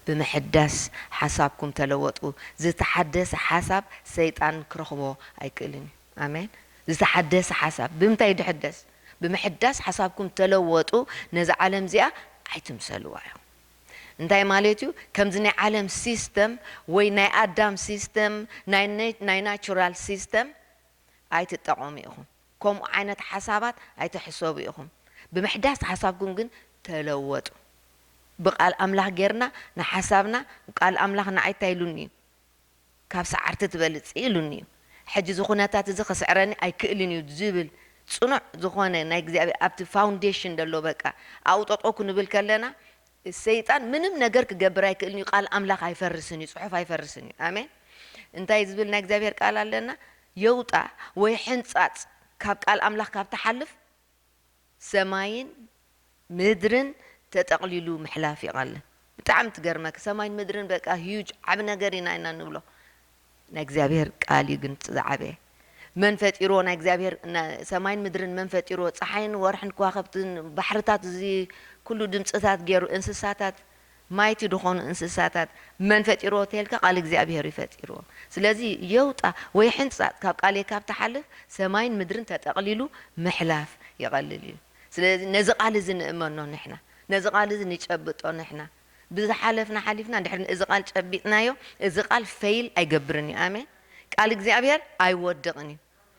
ብምሕዳስ ሓሳብኩም ተለወጡ ዝተሓደሰ ሓሳብ ሰይጣን ክረኽቦ ኣይክእልን እዩ ኣሜን ዝተሓደሰ ሓሳብ ብምንታይ እዩ ድሕደስ ብምሕዳስ ሓሳብኩም ተለወጡ ነዛ ዓለም እዚኣ ኣይትምሰልዋ ኢኹም እንታይ ማለት እዩ ከምዚ ናይ ዓለም ሲስተም ወይ ናይ ኣዳም ሲስተም ናይ ናይ ናቹራል ሲስተም ኣይትጠቐሙ ኢኹም ከምኡ ዓይነት ሓሳባት ኣይትሕሰቡ ኢኹም ብምሕዳስ ሓሳብኩም ግን ተለወጡ ብቃል ኣምላኽ ጌርና ንሓሳብና ቃል ኣምላኽ ንዓይ እንታይ ኢሉኒ እዩ ካብ ሰዓርቲ ትበልጺ ኢሉኒ እዩ ሕጂ እዚ ኩነታት እዚ ክስዕረኒ ኣይክእልን እዩ ዝብል ጽኑዕ ዝኾነ ናይ እግዚኣብሔር ኣብቲ ፋውንዴሽን ዘሎ በቃ ኣብኡ ጠጠው ክንብል ከለና ሰይጣን ምንም ነገር ክገብር ኣይክእልን እዩ ቃል ኣምላኽ ኣይፈርስን እዩ ጽሑፍ ኣይፈርስን እዩ ኣሜን እንታይ ዝብል ናይ እግዚኣብሔር ቃል ኣለና የውጣ ወይ ሕንጻጽ ካብ ቃል ኣምላኽ ካብ ትሓልፍ ሰማይን ምድርን ተጠቅሊሉ ምሕላፍ ይቀልል ብጣዕሚ ትገርመኪ ሰማይን ምድርን በቃ huge ዓቢ ነገር ኢና ኢና ንብሎ ናይ እግዚኣብሄር ቃል እዩ ግን ዝዓበየ መን ፈጢርዎ ናይ እግዚኣብሄር ሰማይን ምድርን መን ፈጢርዎ ጸሓይን ወርሕን ክዋኸብትን ባሕርታት እዚ ኩሉ ድምጽታት ጌሩ እንስሳታት ማይቲ ድኾኑ እንስሳታት መን ፈጢርዎ ተልካ ቃል እግዚኣብሔር እዩ ፈጢርዎ ስለዚ የውጣ ወይ ሕንጻጽ ካብ ቃልየ ካብ ትሓልፍ ሰማይን ምድርን ተጠቅሊሉ ምሕላፍ ይቀልል እዩ ስለዚ ነዚ ቃል እዚ ንእመኖ ንሕና ነዚ ቃል እዚ ንጨብጦ ንሕና ብዝሓለፍና ሓሊፍና ድሕሪ እዚ ቃል ጨቢጥናዮ እዚ ቃል ፈይል ኣይገብርን እዩ ኣሜን ቃል እግዚኣብሔር ኣይወድቅን እዩ